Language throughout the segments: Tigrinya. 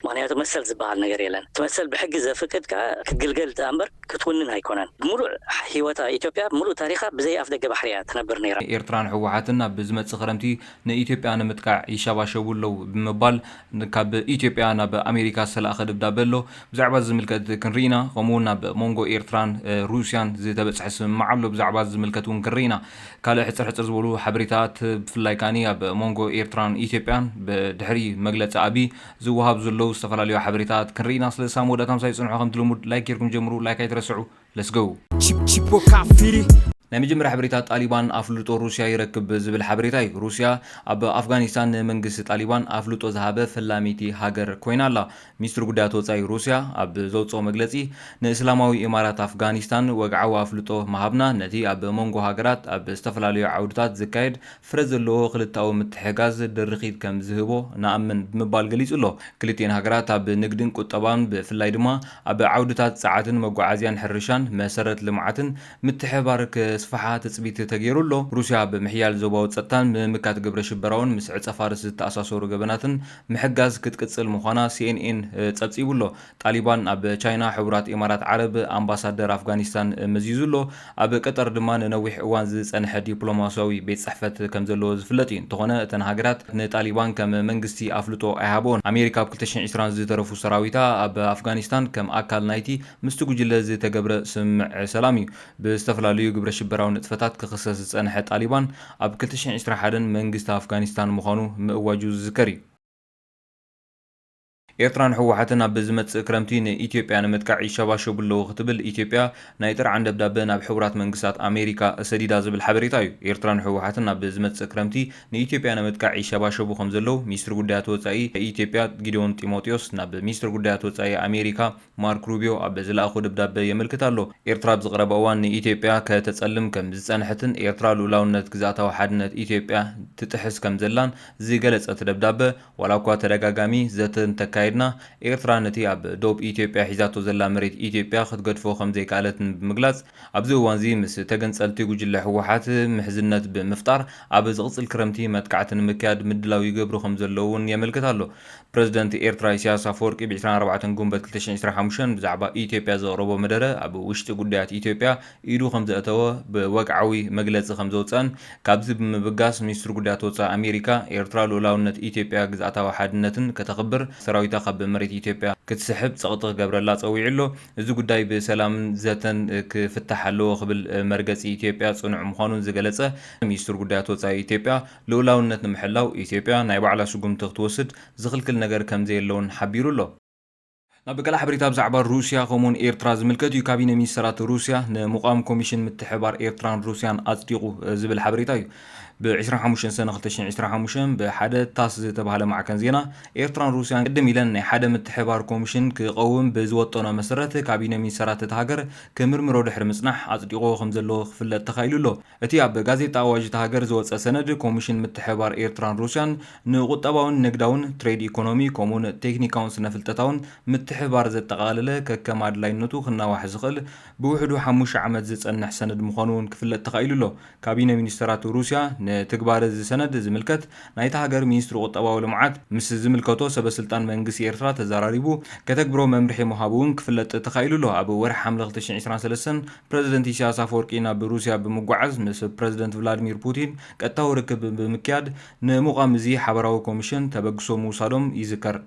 ምኽንያቱ መሰል ዝበሃል ነገር የለን። እቲ መሰል ብሕጊ ዘፍቅድ ከኣ ክትግልገል ደኣ እምበር ክትውንን ኣይኮነን። ብምሉእ ሂወታ ኢትዮጵያ ብምሉእ ታሪኻ ብዘይ ኣፍደገ ባሕሪ እያ ትነብር ነይራ። ኤርትራን ህወሓትን ኣብ ዝመጽእ ክረምቲ ንኢትዮጵያ ንምጥቃዕ ይሸባሸቡ ኣለዉ ብምባል ካብ ኢትዮጵያ ናብ ኣሜሪካ ዝተላእከ ደብዳበ ኣሎ። ብዛዕባ እዚ ዝምልከት ክንርኢ ኢና። ከምኡ'ውን ኣብ ሞንጎ ኤርትራን ሩስያን ዝተበጽሐ ስምምዕ ኣሎ። ብዛዕባ እዚ ዝምልከት እውን ክንርኢ ኢና። ካልእ ሕጽር ሕጽር ዝበሉ ሓበሬታታት ብፍላይ ከኣ ኣብ ሞንጎ ኤርትራን ኢትዮጵያን ድሕሪ መግለጺ ኣቢይ ዝወሃቡ ዘለዉ ዝተፈላለዩ ሓበሬታት ክንርኢ ኢና ስለዚ ሳብ መወዳእታ ምሳይ ጽንሑ ከምቲ ልሙድ ላይክ ጌርኩም ጀምሩ ላይክ ኣይትረስዑ let's go። Chip Chipo Kafiri። ናይ መጀመርያ ሓበሬታ ጣሊባን ኣፍልጦ ሩስያ ይረክብ ዝብል ሓበሬታ እዩ። ሩስያ ኣብ ኣፍጋኒስታን ንመንግስቲ ጣሊባን ኣፍልጦ ዝሃበ ፈላሚቲ ሃገር ኮይና ኣላ። ሚኒስትሪ ጉዳያት ወጻኢ ሩስያ ኣብ ዘውጽኦ መግለጺ ንእስላማዊ ኢማራት ኣፍጋኒስታን ወግዓዊ ኣፍልጦ ምሃብና ነቲ ኣብ መንጎ ሃገራት ኣብ ዝተፈላለዩ ዓውድታት ዝካየድ ፍረ ዘለዎ ክልተኣዊ ምትሕግጋዝ ድርኺት ከም ዝህቦ ንኣምን ብምባል ገሊጹ ኣሎ። ክልቲኤን ሃገራት ኣብ ንግድን ቁጠባን ብፍላይ ድማ ኣብ ዓውድታት ጸዓትን መጓዓዝያን ሕርሻን መሰረት ልምዓትን ምትሕብባር ከስፍሓ ትጽቢት ተገይሩ ኣሎ። ሩስያ ኣብ ምሕያል ዞባዊ ጸጥታን ምምካት ግብረ ሽበራውን ምስ ዕጸ-ፋርስ ዝተኣሳሰሩ ገበናትን ምሕጋዝ ክትቅጽል ምዃና ሲኤንኤን ጸብጺቡ ኣሎ። ጣሊባን ኣብ ቻይና ሕቡራት ኢማራት ዓረብ ኣምባሳደር ኣፍጋኒስታን መዚዙ ኣሎ። ኣብ ቀጠር ድማ ንነዊሕ እዋን ዝጸንሐ ዲፕሎማስያዊ ቤት ጽሕፈት ከም ዘለዎ ዝፍለጥ እዩ። እንተኾነ እተን ሃገራት ንጣሊባን ከም መንግስቲ ኣፍልጦ ኣይሃብኦን። ኣሜሪካ ኣብ ክልተ ሽሕን ዕስራን ዝተረፉ ሰራዊታ ኣብ ኣፍጋኒስታን ከም ኣካል ናይቲ ምስቲ ጉጅለ ዝተገብረ ስምምዕ ሰላም እዩ። ብዝተፈላለዩ ግብረ ሽበራዊ ንጥፈታት ክኽሰስ ዝጸንሐ ጣሊባን ኣብ ክልተ ሽሕን ዕስራን ሓደን መንግስቲ ኣፍጋኒስታን ምዃኑ ምእዋጁ ዝዝከር እዩ። ኤርትራን ህወሓትን ኣብ ዝመጽእ ክረምቲ ንኢትዮጵያ ንምጥቃዕ ይሸባሸቡ ኣለዉ ክትብል ኢትዮጵያ ናይ ጥርዓን ደብዳበ ናብ ሕቡራት መንግስታት ኣሜሪካ ሰዲዳ ዝብል ሓበሬታ እዩ። ኤርትራን ህወሓትን ኣብ ዝመጽእ ክረምቲ ንኢትዮጵያ ንምጥቃዕ ይሸባሸቡ ከምዘለዉ ሚኒስትሪ ጉዳያት ወጻኢ ኢትዮጵያ ጊዲዮን ጢሞቴዎስ ናብ ሚኒስትር ጉዳያት ወጻኢ ኣሜሪካ ማርክ ሩቢዮ ኣብ ዝለኣኾ ደብዳበ የመልክት ኣሎ። ኤርትራ ኣብ ዝቐረበ እዋን ንኢትዮጵያ ከተጸልም ከም ዝጸንሐትን ኤርትራ ልኡላውነት ግዝኣታዊ ሓድነት ኢትዮጵያ ትጥሕስ ከምዘላን ዝገለጸ እቲ ደብዳበ፣ ዋላ እኳ ተደጋጋሚ ዘተ እንተካየድና፣ ኤርትራ ነቲ ኣብ ዶብ ኢትዮጵያ ሒዛቶ ዘላ መሬት ኢትዮጵያ ክትገድፎ ከምዘይከኣለትን ብምግላጽ፣ ኣብዚ እዋንዚ ምስ ተገንጸልቲ ጉጅለ ህወሓት ምሕዝነት ብምፍጣር ኣብ ዝቕጽል ክረምቲ መጥቃዕቲ ንምክያድ ምድላው ይገብሩ ከምዘለዉን የመልክት ኣሎ። ፕረዚደንት ኤርትራ ኢሳያስ ኣፈወርቂ ብ ዕስራን ኣርባዕተን ጉንበት ክልተ ሽሕን ዕስራን ሓሙሽተን ብዛዕባ ኢትዮጵያ ዘቕረቦ መደረ ኣብ ውሽጢ ጉዳያት ኢትዮጵያ ኢዱ ከምዘእተወ ብወግዓዊ መግለጺ ከምዘውጸኣን ካብዚ ብምብጋስ ሚኒስትሪ ጉዳያት ወጻኢ ኣሜሪካ ኤርትራ ልኡላውነት ኢትዮጵያ ግዝኣታዊ ሓድነትን ከተኽብር ሰራዊታ ካብ መሬት ኢትዮጵያ ክትስሕብ ጸቕጢ ክገብረላ ጸዊዑ ኣሎ። እዚ ጉዳይ ብሰላምን ዘተን ክፍታሕ ኣለዎ ክብል መርገጺ ኢትዮጵያ ጽኑዕ ምዃኑ ዝገለጸ ሚኒስትሪ ጉዳያት ወጻኢ ኢትዮጵያ ልኡላውነት ንምሕላው ኢትዮጵያ ናይ ባዕላ ስጉምቲ ክትወስድ ዝኽልክል ነገር ከምዘየለ'ውን ሓቢሩ ኣሎ። ናብ ገለ ሓበሬታ ብዛዕባ ሩስያ ከምኡውን ኤርትራ ዝምልከት እዩ። ካቢነ ሚኒስተራት ሩስያ ንምቛም ኮሚሽን ምትሕብባር ኤርትራን ሩስያን ኣጽዲቑ ዝብል ሓበሬታ እዩ ብ ዕስራን ሓሙሽተን ሰነ ክልተ ሽሕን ዕስራን ሓሙሽተን ብሓደ ታስ ዝተባህለ ማዕከን ዜና። ኤርትራን ሩስያን ቅድም ኢለን ናይ ሓደ ምትሕብባር ኮሚሽን ክቐውም ብዝወጠኖ መሰረት ካቢነ ሚኒስተራት እታ ሃገር ክምርምሮ ድሕሪ ምጽናሕ ኣጽዲቕዎ ከምዘሎ ክፍለጥ ተኻኢሉ ኣሎ። እቲ ኣብ ጋዜጣ ኣዋጅ እታ ሃገር ዝወጸ ሰነድ፣ ኮሚሽን ምትሕብባር ኤርትራን ሩስያን ንቁጠባዊን ንግዳውን፣ ትሬድ ኢኮኖሚ፣ ከምኡ'ውን ቴክኒካውን ስነፍልጠታውን ምትሕብባር ዘጠቓለለ ከከም ኣድላይነቱ ክናዋሕ ዝኽእል ብውሕዱ ሓሙሽተ ዓመት ዝጸንሕ ሰነድ ምዃኑ'ውን ክፍለጥ ተኻኢሉ ኣሎ። ካቢነ ሚኒስተራት ሩስያ ንትግባረ እዚ ሰነድ ዝምልከት ናይታ ሃገር ሚኒስትሪ ቁጠባዊ ልምዓት ምስ ዝምልከቶ ሰበስልጣን መንግስቲ ኤርትራ ተዘራሪቡ ከተግብሮ መምርሒ ምሃቡ'ውን ክፍለጥ ተኻኢሉ ኣሎ። ኣብ ወርሒ ሓምለ ክልተ ሽሕን ዕስራን ሰለስተን ፕረዚደንት ኢሳያስ ኣፈወርቂ ናብ ሩስያ ብምጓዓዝ ምስ ፕረዚደንት ቭላድሚር ፑቲን ቀጥታዊ ርክብ ብምክያድ ንምቛም እዚ ሓበራዊ ኮሚሽን ተበግሶ ምውሳዶም ይዝከር።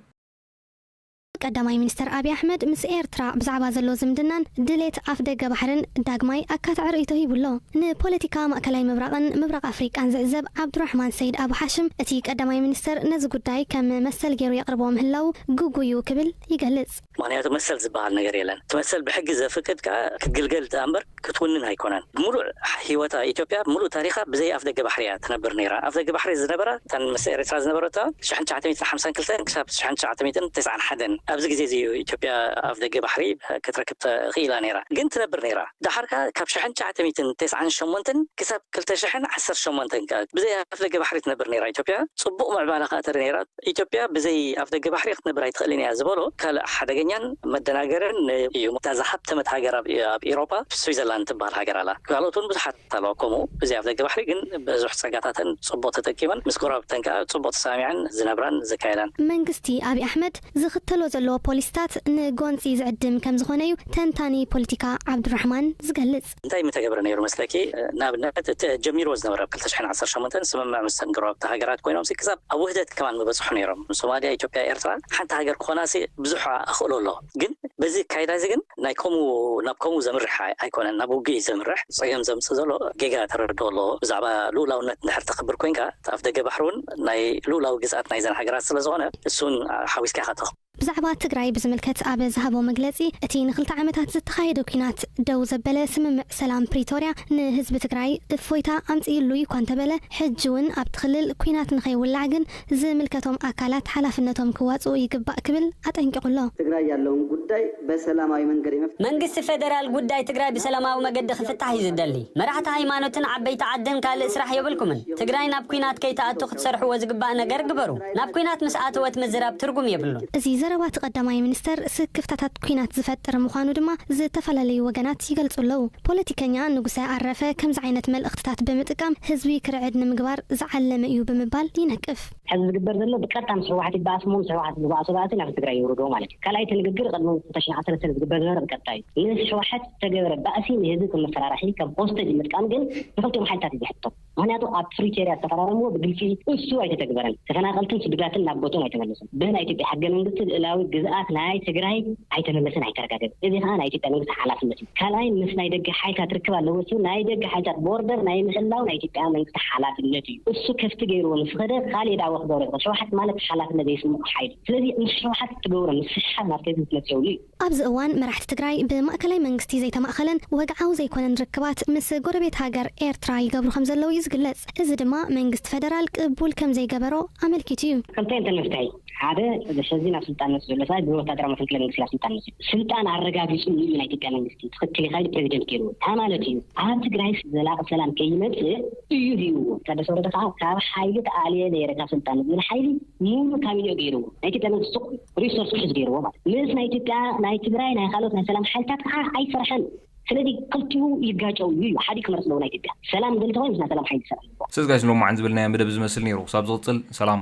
ቀዳማይ ሚኒስተር ኣብይ ኣሕመድ ምስ ኤርትራ ብዛዕባ ዘሎ ዝምድናን ድሌት ኣፍደገ ባሕርን ዳግማይ ኣካታዒ ርእይቶ ሂቡ ኣሎ። ንፖለቲካ ማእከላይ ምብራቕን ምብራቕ ኣፍሪቃን ዝዕዘብ ዓብዱራሕማን ሰይድ ኣቡ ሓሽም እቲ ቀዳማይ ሚኒስተር ነዚ ጉዳይ ከም መሰል ገይሩ የቕርቦ ምህላዉ ግጉይ እዩ ክብል ይገልጽ። ምኽንያቱ መሰል ዝበሃል ነገር የለን። እቲ መሰል ብሕጊ ዘፍቅድ ከኣ ክትግልገል ደኣምበር ክትውንን ኣይኮነን። ብምሉእ ሂወታ ኢትዮጵያ ምሉእ ታሪኻ ብዘይ ኣፍደገ ባሕሪ እያ ትነብር ነይራ። ኣፍደገ ባሕሪ ዝነበራ እተን ምስ ኤርትራ ዝነበረቶ ሽሕን ትሽዓተ ሚእትን ሓምሳን ክልተን ክሳብ ሽሕን ትሽዓተ ሚእትን ተስዓን ሓደን ኣብዚ ግዜ እዚ እዩ ኢትዮጵያ ኣፍደገ ባሕሪ ክትረክብ ተኽኢላ ነይራ ግን ትነብር ነይራ። ደሓር ከኣ ካብ ሽሕን ትሽዓተ ሚእትን ተስዓን ሸሞንተን ክሳብ ክልተ ሽሕን ዓሰርተ ሸሞንተን ከኣ ብዘይ ኣፍደገ ባሕሪ ትነብር ነይራ ኢትዮጵያ ጽቡቕ ምዕባላ ከኣ ተርኢ ነይራ። ኢትዮጵያ ብዘይ ኣፍደገ ባሕሪ ክትነብር ኣይትኽእልን እያ ዝበሎ ካልእ ሓደገኛን መደናገርን እዩ። እታ ዝሃብተመት ሃገር ኣብ ኢሮጳ ስዊዘርላንድ ትበሃል ሃገር ኣላ። ካልኦት እውን ብዙሓት ኣለዋ ከምኡ። ብዘይ ኣፍደገ ባሕሪ ግን ብዙሕ ጸጋታተን ጽቡቕ ተጠቂመን ምስ ጎረባብተን ከኣ ጽቡቕ ተሰማሚዐን ዝነብራን ዝካየዳን። መንግስቲ ኣብይ ኣሕመድ ዝኽተሎ ዘሎ ፖሊሲታት ንጎንጺ ዝዕድም ከምዝኾነ እዩ ተንታኒ ፖለቲካ ዓብዱራሕማን ዝገልጽ። እንታይ ምተገብረ ነይሩ መስለኪ? ንኣብነት እቲ ጀሚርዎ ዝነበረ ኣብ ክልተ ሽሕን ዓሰርተ ሸሞንተን ስምምዕ ምስተን ጎረባብቲ ሃገራት ኮይኖምሲ ክሳብ ኣብ ውህደት ከማን ምበጽሑ ነይሮም። ሶማልያ፣ ኢትዮጵያ፣ ኤርትራ ሓንቲ ሃገር ክኾናሲ ብዙሕ ኣኽእሎ ኣሎ። ግን በዚ ኣካይዳዚ ግን ናይ ከምኡ ናብ ከምኡ ዘምርሕ ኣይኮነን ናብ ውግእ እዩ ዘምርሕ። ጸገም ዘምጽእ ዘሎ ጌጋ ተረድኦ ኣሎ። ብዛዕባ ልኡላውነት እንድሕር ተኽብር ኮይንካ እቲ ኣፍደገ ባሕሪ እውን ናይ ልኡላዊ ግዝኣት ናይዘን ሃገራት ስለዝኾነ እሱውን ሓዊስካ ኢኻ ተኽ። ብዛዕባ ትግራይ ብዝምልከት ኣብ ዝሃቦ መግለጺ፣ እቲ ንክልተ ዓመታት ዝተኻየደ ኲናት ደው ዘበለ ስምምዕ ሰላም ፕሪቶርያ ንህዝቢ ትግራይ እፎይታ ኣምጺእሉ እዩ'ኳ እንተበለ፣ ሕጂ'ውን ኣብቲ ክልል ኲናት ንከይውላዕ ግን ዝምልከቶም ኣካላት ሓላፍነቶም ክዋጽኡ ይግባእ ክብል ኣጠንቂቑ ኣሎ። ትግራይ ያለውን ጉዳይ በሰላማዊ መንገድ የመፍትሑ። መንግስቲ ፌደራል ጉዳይ ትግራይ ብሰላማዊ መገዲ ክፍታሕ እዩ ዝደሊ። መራሕቲ ሃይማኖትን ዓበይቲ ዓድን ካልእ ስራሕ የብልኩምን። ትግራይ ናብ ኲናት ከይትኣቱ ክትሰርሕዎ ዝግባእ ነገር ግበሩ። ናብ ኲናት ምስ ኣተወት ምዝራብ ትርጉም የብሉን። እዚ ዘረባ እቲ ቀዳማይ ሚኒስተር ስክፍታታት ኲናት ዝፈጥር ምዃኑ ድማ ዝተፈላለዩ ወገናት ይገልጹ ኣለዉ። ፖለቲከኛ ንጉሰ ኣረፈ ከምዚ ዓይነት መልእኽትታት ብምጥቃም ህዝቢ ክርዕድ ንምግባር ዝዓለመ'ዩ ብምባል ይነቅፍ። ሕዚ ዝግበር ዘሎ ብቀጥታ ምስ ህወሓት ይበኣስ እሞ ምስ ህወሓት ዝባኣሶ ባእሲ ናብ ትግራይ የውርዶ ማለት እዩ። ካልኣይ እቲ ንግግር ቅድሚ ሁእቲ ዕስራን ዓሰርተን ዝግበር ዝነበረ ብቀጥታ እዩ። ምስ ህወሓት ዝተገበረ ባእሲ ንህዝቢ ከም መፈራርሒ ከም ሆስተጅ ምጥቃም ግን ንኽልቲኦም ሓይልታት እዩ ዘሕትቶም። ምክንያቱ ኣብ ፕሪቶርያ ዝተፈራረምዎ ብግልፂ እሱ ኣይተተግበረን። ተፈናቀልትን ስዱዳትን ናብ ቦትኦም ኣይተመለሱን። ብ ናይ ኢትዮጵያ ሕገ መንግስቲ ልእላዊ ግዝኣት ናይ ትግራይ ኣይተመለሰን ኣይተረጋገፀን። እዚ ከዓ ናይ ኢትዮጵያ መንግስቲ ሓላፍነት እዩ። ካልኣይ ምስ ናይ ደገ ሓይልታት ርክብ ኣለዎ እሱ። ናይ ደገ ሓይልታት ቦርደር ናይ ምሕላው ናይ ኢትዮጵያ መንግስቲ ሓላፍነት እዩ። እሱ ከፍቲ ገይርዎ ምስ ኸደ ካሊእ ዳዕዎ ክገብሮ ይኽእል። ሕወሓት ማለት ሓላፍነት ዘይስመዖ ሓይሊ እዩ። ስለዚ ምስ ሕወሓት እትገብሮ ምስሕሓብ ናብ ትህዝቢ ትመፅእ የብሉ እዩ። ኣብዚ እዋን መራሕቲ ትግራይ ብማእከላይ መንግስቲ ዘይተማእኸለን ወግዓዊ ዘይኮነን ርክባት ምስ ጎረቤት ሃገር ኤርትራ ይገብሩ ከምዘለዉ እዩ ዝግለጽ። እዚ ድማ መንግስቲ ፈደራል ቅቡል ከምዘይገበሮ ኣመልኪቱ እዩ። ክልተ እየን ተልእኽተይ። ሓደ ሕዚ ናብ ስልጣን መፂኡ ዘሎ ሰብኣይ ብወታደራዊ መፈንቅለ መንግስቲ ናብ ስልጣን መፂኡ ስልጣን ኣረጋጊፁ እዩ ናይ ኢትዮጵያ መንግስቲ ትኽክል ኢኻ ኢሉ ፕረዚደንት ገይርዎ ታይ ማለት እዩ ኣብ ትግራይስ ዘላቒ ሰላም ከይመፅእ እዩ ሂብዎ ታደሰ ወረደ ከዓ ካብ ሓይሊ ተኣልየ ነይረ ካብ ስልጣን ዝብል ሓይሊ ሙሉእ ካቢኔኡ ገይርዎ ናይ ኢትዮጵያ መንግስቲ ሪሶርስ ክሕዝ ገይርዎ ማለት ምስ ናይ ኢትዮጵያ ናይ ትግራይ ናይ ካልኦት ናይ ሰላም ሓይልታት ከዓ ኣይሰርሐን ስለዚ ክልቲኡ ይጋጨው እዩ ሓዲ ክመርፅ ኣለዎ ናይ ኢትዮጵያ ሰላም ዝደሊ ተኮይኑ ምስ ናይ ሰላም ሓይሊ ክሰርሕ ኣለዎ። ሰስ ጋይስ ሎማዓንቲ ዝበልናዮ መደብ እዚ ዝመስል ነይሩ ክሳብ ዝቅፅል ሰላም።